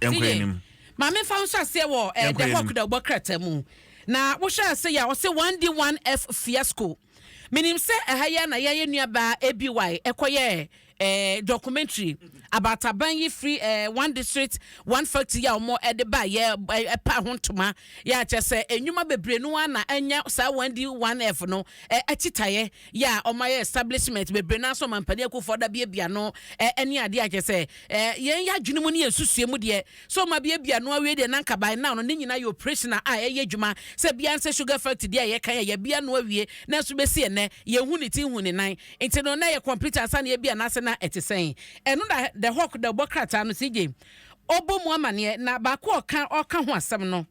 Yɛnkɔ Seye, anim. ma me nfa wo nhyɛ aseɛ wɔ eh, Yɛnkɔ The Hawk anim. da wobɔ krataa mu. Na wohwɛ a seye a ɔse 1D1F fiasco. Menim sɛ ɛha yi ara na yɛayɛ nuabaa ABY ɛkɔyɛɛ eh, documentary about aban yi firi eh, one district, one factory a wɔn ɛde ba yɛ eh, ɛpaa ho ntoma. Yɛ akyɛ sɛ nnwuma bebree no ara na anya saa 1D1F no eh, akyitaeɛ. yɛ a ɔmayɛ establishment bebree no ara sɛ ɔman panin Akuffo Addo abiabia no ɛne adeɛ a kyɛ sɛ yɛn yɛ adwene mu ne yɛn nsusue mu deɛ sɛ ɔma abiabia no awie deɛ na nka by now no ne nyinaa yɛ operational a ɛyɛ adwuma sɛ bia nsɛ sugar factory deɛ a yɛka yɛ yɛabia no awie nanso bɛsi ɛnɛ yɛn hu ne ti hu ne nan nti no na yɛ complete ansa na yɛbia no ase na ɛte sɛn ɛno na the hawk da ɔbɔ krataa no CJ ɔbɔ mu amaneɛ na baako ɔka ɔka ho asɛm no.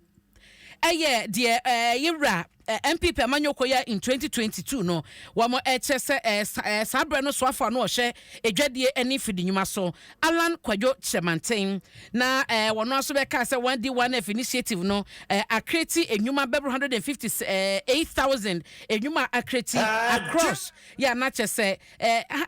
Ɛyɛ deɛ yewura NPP amanyɔkuo yɛ in 2022 no, wɔn ɛkyɛ sɛ saa berɛ no soafo ano ɔhwɛ adwadie ɛne fidi nnwuma so Allan Kwadwo Kyerɛmanten na wɔn aso bɛkaa sɛ wɔn adi 1F initiative no akreti nnwuma bɛboro 158,000 nnwuma akreti across yɛ anakyɛ sɛ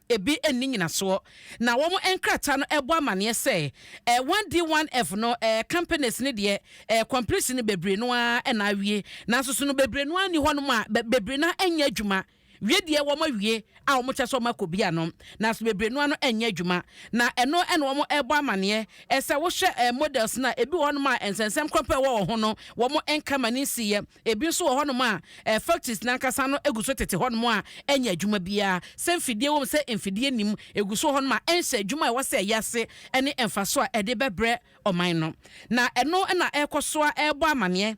ebi nni nnyinasoɔ, na wɔn nkrataa no bɔ amaneɛ sɛ eh, 1D 1F no eh, companies no deɛ eh, completion no bebree no ara na awie, nanso so no bebree no ara nni hɔnom a bebree no ara nyɛ adwuma wie deɛ wɔn awie a wɔn kyɛ sɛ wɔn akɔ bi ano, nanso bebree no ara no nyɛ adwuma, na ɛno na wɔn rebɔ amaneɛ eh, sɛ wohwɛ eh, models no a ebi wɔ hɔnom a nsɛnsɛm korɔ pɛ wɔ wɔn ho no wɔn nka ma no nsiiɛ. Ebi nso wɔ hɔnom a factories no ankasa no gu so tete hɔnom a ɛnyɛ adwuma biara. Sɛ mfidie wom, sɛ mfidie nnim, ɛgu so wɔ hɔnom a ɛnhyɛ adwuma a ɛwɔ sɛ ɛyɛ ase ne mfasoɔ a ɛde bɛbrɛ ɔman no. Na ɛno na ɛrekɔ so ara rebɔ amanneɛ,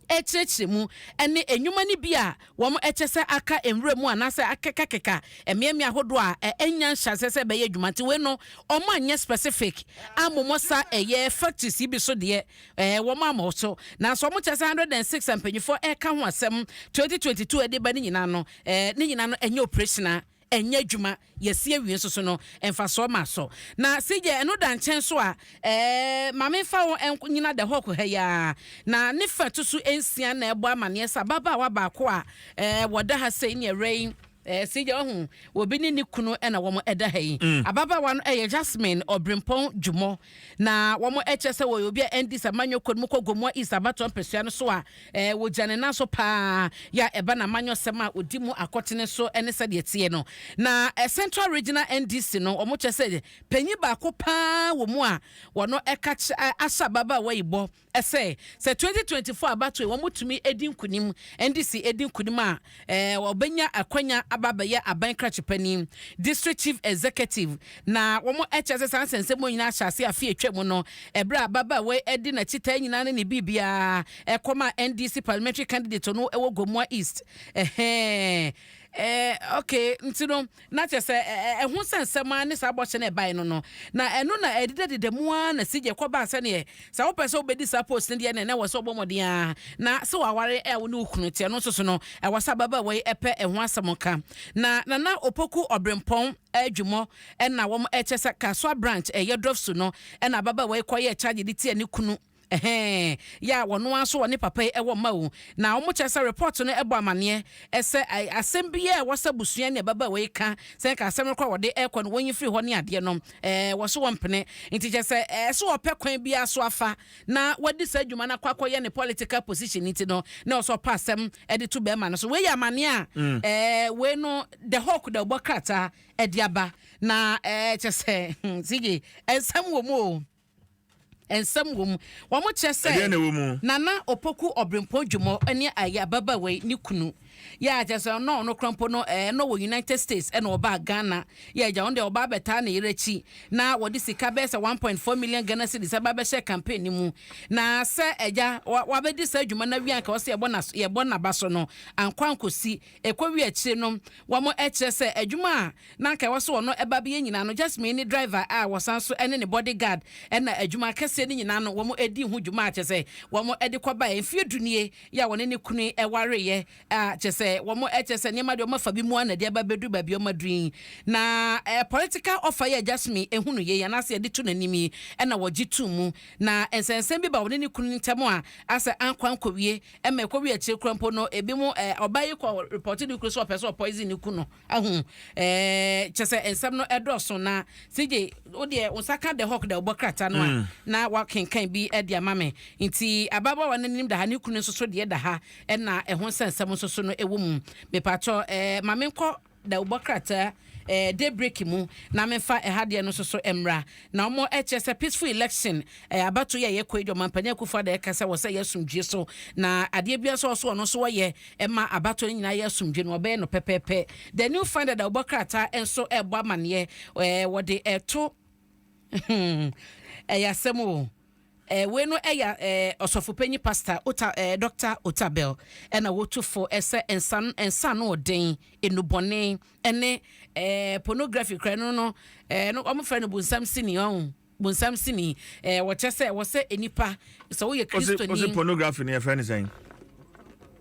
rekyerɛkyerɛ mu ne nnwuma no bi a wɔkyɛ sɛ aka nwura mu anaasɛ akekakeka mmeammea ahodoɔ a ɛnnya nhyɛaseɛ sɛ ɛbɛyɛ adwuma. Nti wei no, wɔanyɛ specific ammomɔ sa ɛyɛ factories yi bi so deɛ Ɛɛ, wɔama wɔn so, nanso wɔkyerɛ sɛ one hundred and six a mpanyinfoɔ reka ho asɛm twenty twenty two de ba no nyinaa no, ɛɛ, ne nyinaa no ɛnyɛ operation a ɛnyɛ adwuma, yɛasi awie nso so no, mfasoɔ ma so. Na CJ, ɛno da nkyɛn nso a, ɛɛ, ma memfa wo nyina The Hawk ha yi ara, na ne fa ɛto so nsia na ɛrebɔ amaneɛ sɛ ababaawa baako a, ɛɛ, wɔda ha sei ne ɛwerɛ yi, Eh, Sigya, wahu obi ne ne kunu na wɔn da ha yi. Mm. Ababaawa no yɛ Jasmine Ɔbrempɔn Dwumɔ, na wɔn kyerɛ sɛ wɔyɛ obi a ɛndi sɛ Manyɔ kɔ no mu kɔ Gomoa East abatoɔ mpɛsua no so a eh, wɔgya ne nan so paa yɛ a ɛba na Manyɔ sɛm a ɔdi mu akɔtene so ne sɛdeɛ teɛ no. Na eh, Central Regional NDC no wɔn kyerɛ sɛ panyin baako paa wɔ mu a wɔn ɛka kyerɛ ahyɛ ababaawa yi bɔ Ɛsɛ sɛ twenty twenty four abatoɔ yi wɔtumi di nkunim, NDC di nkunim a wɔbɛnya akwanya aba abɛyɛ aban krakye panin, District Chief Executive, na wɔkyerɛ sɛ saa nsɛnsɛm yi nyinaa ahyɛ aseɛ afe a atwa mu no, ɛberɛ a ababaawa yi de n'akyi taa nyinaa ne ne biribiara kɔmaa NDC Parliamentary Candidate no wɔ Gomoa East. Ɛhɛɛ, ɛɛ, okay, nti no. Na kyerɛ sɛ, ɛho sɛ nsɛm ara ne saa bɔhyɛ no a ɛbae no no. Na ɛno na ɛdedadeda mu ara na sigya kɔbaa sɛdeɛ sɛ wopɛ sɛ wobɛdi saa post no deɛ na na ɛwɔ sɛ wobɔ mmɔden ara na sɛ waware a wo ne wo kunu te. Ɛno nso so no, ɛwɔ sɛ ababaawa yi pɛ ɛho asɛm ka. Na Nana Opoku Ɔbrempɔn Adwumɔ na wɔkyerɛ sɛ Kasoa Branch, Yɛdrɔfsu no na ababaawa yi kɔyɛɛ charge de tiaa ne kunu. Ɛhɛɛn, yɛ a wɔn ara nso wɔne papa yi wɔ mma o. Na wɔkyerɛ sɛ report no bɔ amaneɛ sɛ asɛm biara a ɛwɔ sɛ abusua ne ababaawa yi ka, sɛ nka asɛm no koraa a wɔde rekɔ no wɔnyi firi hɔ ne adeɛ no, ɛɛ, wɔso wɔmpene. Nti kyerɛ sɛ ɛɛ sɛ ɔpɛ kwan biara so afa na wadi saa adwuma no akɔ akɔyɛ ne political position nti no, na ɛwɔ sɛ ɔpa asɛm de to barima no so. Wei yɛ amaneɛ a ɛɛ wei no The Hawk da bɔ krataa de aba. Na ɛɛ kyerɛ sɛ hmm, CJ, nsɛm wɔ mu o. Nsɛm wɔ mu. Wɔkyerɛ sɛ Ɛdeɛn na ɛwɔ mu? Nana Opoku Obirempong Jumo ne ɛyɛ ababaawa yi ne kunu. Yɛ a kyerɛ sɛ na ɔno koraa mpo no ɛɛ na ɔwɔ United States ɛna ɔbaa Ghana. Yɛ agya ɔno deɛ ɔbaa bɛtaa ne yere akyi na wɔde sika bɛyɛ sɛ one point four million Ghana cedis ɛbaa bɛhyɛɛ campaign no mu. Na sɛ agya wa wabɛdi saa dwuma no awie a anka ɔsɛ yɛbɔ n'as yɛbɔ n'aba so no ankɔ ankɔsi. Ɛkɔwie akyire no, wɔkyerɛ sɛ adwuma a na anka ɛwɔ sɛ wɔn ba bɛyɛ nyinaa no, Jasmine ne driver a wɔsan nso ne ne body guard na adwuma akɛseɛ no nyinaa no wɔdii ho dwuma a kyerɛ sɛ wɔde kɔbaeɛ. Mfeɛ du nie yɛ a wɔne ne kunu wareeɛ a kyerɛ sɛ wɔkyerɛ sɛ nneɛma deɛ wɔafa bi mu ara na ɛde aba abɛduru baabi a wɔaduru yi. Na political offer yi a Jasmine hunuiɛ yi anaasɛ yɛde to n'anim yi na wɔgye too mu. Na nsɛnsɛm bi baa wɔne ne kunu no ntam a asɛ ankɔ ankɔwie Ɛma ɛkɔ wi akyire kura mpo no ebi mo ɛɛ ɔbaa yi kɔ repɔte ne kunu sɛ ɔpɛ sɛ ɔpoison ne kunu ahu ɛɛ kyɛ sɛ nsɛm no ɛdɔɔso na CJ wo deɛ wo nsa ka the hawk deɛ ɔbɔ krataa no a mm. na wakenkan bi ɛde ama me nti ababaawa no nim da ha ne kunu nso so deɛ da ha ɛna ɛho nsɛnsɛm nso so no ɛwɔ mu mepatɔ ɛɛ maame nkɔ Da wo bɔ krataa ɛɛ daybreak mu na me nfa ɛha deɛ no soso ɛmmra na ɔmɔ ɛkyɛ sɛ peaceful election ɛɛ abato yi a yɛkɔ yi deɛ ɔmanpanin akufo ada ɛka sɛ wɔ sɛ yɛ asomdwie so na adeɛ bia sɛ ɔso ɔno nso ɔyɛ ɛma abato no nyinaa yɛ asomdwie no ɔbɛyɛ no pɛpɛɛpɛ the new finder da wo bɔ krataa ɛnso ɛɛbɔ amaneɛ ɛɛ wɔde ɛɛto hmm ɛyɛ asɛm o. Eh, wei no ɛyɛ eh, ɔsɔfopanyin pasta ota eh, dɔkta otabel ɛna wotu fo ɛsɛ nsa nsa no ɔden enubɔne ɛne eh, pornography kura no no eh, no wɔn fɛ no bunsam sini ɔn bunsam sini eh, wɔkyɛ sɛ wɔsɛ nipa sɛ woyɛ kristoni. ɔsi pornography no yɛ fɛ ne sɛn.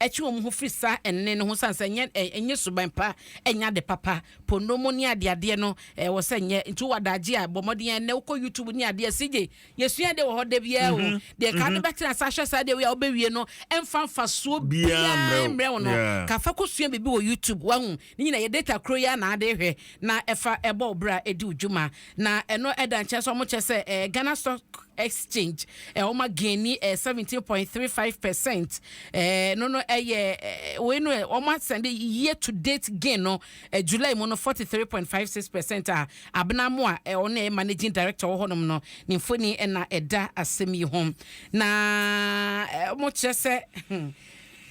ɛtwe wɔn ho firi saa ɛnne no ho sane sɛ ɛnyɛ ɛnyɛ suban pa, ɛnyɛ ade papa, ponnomo ne adeadeɛ no ɛwɔ sɛ nyɛ, nti wowɔ adagye a bɔ mmɔden ɛnnɛ wokɔ YouTube ne adeɛ CJ yɛsua deɛ wɔ hɔ da biara o, deɛ ka no bɛtena ase ahwɛ saa deɛ wei a wobɛwie no ɛmfa mfasoɔ biara mmrɛ wo no, ka fa kɔsua biribi wɔ YouTube wahu, Ne nyinaa yɛ data koro yi ara na ade hwɛ na ɛfa ɛbɔ wo bra ɛdi wo dwuma na ɛno da nkyɛn so ɔmo kyɛ sɛ ɛɛ Ghana stock exchange ɛɛ ɔma gaini ɛɛ seventeen point three five percent ɛɛ no no ɛyɛ ɛɛ wei no ɛɛ ɔmo asɛnde year to date gain no ɛɛ July mu no forty three point five six percent a abena mo a ɛɛ ɔno ɛyɛ managing director wɔ hɔnom no ne mfoni ɛna ɛda asɛm yi ho na ɛɛ ɔmo kyerɛ sɛ hmm.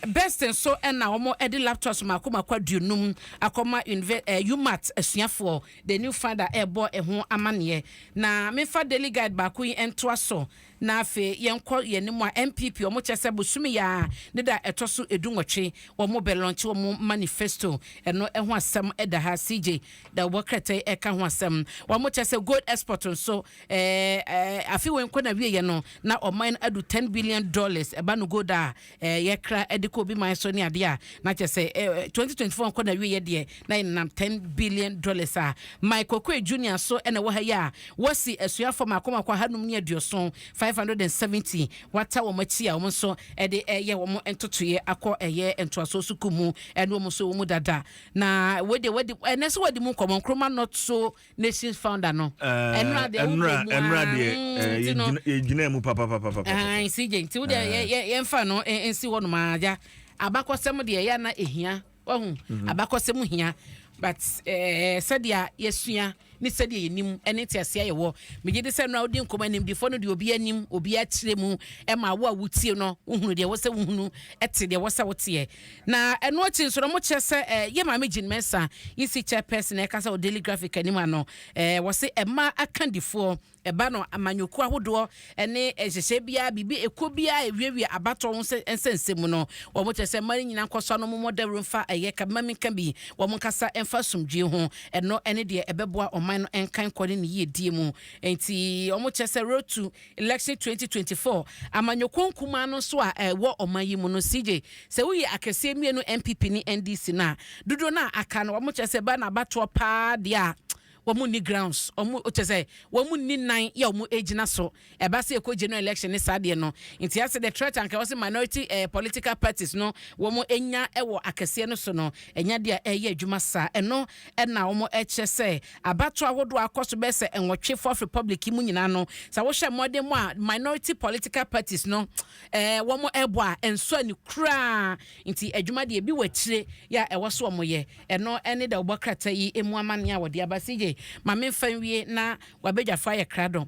Best nso na wɔde laptops mmaako mmaako aduonum akɔma Unive eh, UMAT asuafoɔ. The New Finder rebɔ ɛho amanneɛ. Na memfa Daily Guide baako yi ntoa so na afei yɛnkɔ yɛn anim a NPP wɔn kyɛ sɛ bosome yi ara ne da ɛtɔ so edu nwɔtwe wɔn bɛ lɔnkye wɔn manifesto ɛno ho asɛm da ha CJ da wɔbɔ krataa ɛka ho asɛm wɔn kyɛ sɛ gold export nso Ɛɛ afe wei nkɔ na wieɛ no na ɔman no adu ten billion dollars ɛba no gold a ɛɛ yɛkra ɛde kɔ obi man so ne adeɛ a na kyɛ sɛ ɛɛ twenty twenty four nkɔ na wieɛ deɛ na yɛnam ten billion dollars a Mike Okoye Junior so ɛna ɛwɔ ha yi a wɔsi asuafoɔ mako mako ahanum ne aduoson five hundred and seventy wata wɔn akyi a wɔn nso ɛde ɛyɛ wɔn ntotoeɛ akɔ ɛyɛ ntoasoɔ sukuu mu ɛne wɔn nso wɔn mu dada na wei deɛ wadi ɛnɛ nso wadi mu nkɔmɔ Nkrumah North so nations founder no ɛnura deɛ wobɔ mu ɛnura deɛ yɛ gyina mu papapapa ɛn si gye nti wodeɛ yɛ yɛ yɛn fa no nsi hɔ nom agya abakɔsɛm deɛ yɛ ana ehia wahu abakɔsɛm hia but ɛɛ sɛdeɛ yɛsua ne sɛdeɛ yɛnim ɛne te aseɛ yɛ wɔ megye de sɛ nura wodi nkɔmɔ anim difo no deɛ obi anim obi akyerɛ mu ɛma wo a wotie no wohunu deɛ wɔsɛ wohunu ɛte deɛ wɔsɛ woteɛ Na ɛno akyi nso no, wɔkyerɛ sɛ eh, yɛ maame Jean Mensah, EC chairperson na ɛkasa wɔ Daily Graphic anim ano, eh, wɔse mmaa akandifoɔ ɛba no amanyɔkuo ahodoɔ ne nhyehyɛe biara, biribi ɛkuo biara a ɛwiawia abatoɔ ho nsɛ- nsɛnsɛm mu no, wɔkyerɛ sɛ mmaa no nyinaa nkɔ so a na wɔmmɔ dawuro mfa ɛyɛ ka mma menka bi, wɔn nkasa mfa asomdwoe ho, ɛno ne deɛ ɛbɛboa ɔman no nkankɔ ne ne yiedie mu. Enti wɔkyerɛ sɛ Road to Election twenty twenty four amanyɔkuo nkumaa no nso a ɛwɔ ɔman yi mu no, CJ, sɛ woyi akɛseɛ mmienu NPP ne NDC no a, dodoɔ no a aka no wɔn kyerɛ sɛ ɛba no abatoɔ paa deɛ a wɔn nni grounds, wɔn kyerɛ sɛ wɔn nni nan yɛ wɔn gyina so, ɛba sɛ ɛkɔ general election ne saa deɛ no. Nti asɛ the threat anka wɔn sɛ minority eh, political parties no wɔn nya wɔ akɛseɛ no so no, ɛnya deɛ ɛyɛ adwuma saa, ɛno Ɛna wɔkyerɛ sɛ abatoɔ ahodoɔ a akɔ so bɛyɛ sɛ nwɔtwe Fourth Republic yi mu nyinaa no, sɛ wohwɛ mmɔden mu a minority political parties no wɔbɔ a, ɛnsɔ ani koraa. Nti adwuma deɛ ebi wɔ akyire yɛ a ɛwɔ so wɔyɛ. Ɛno ne dawubɔ krataa yi mu amanneɛ a wɔde aba. CJ, ma memfa nwie na w'abadwafoɔ ayɛ krado.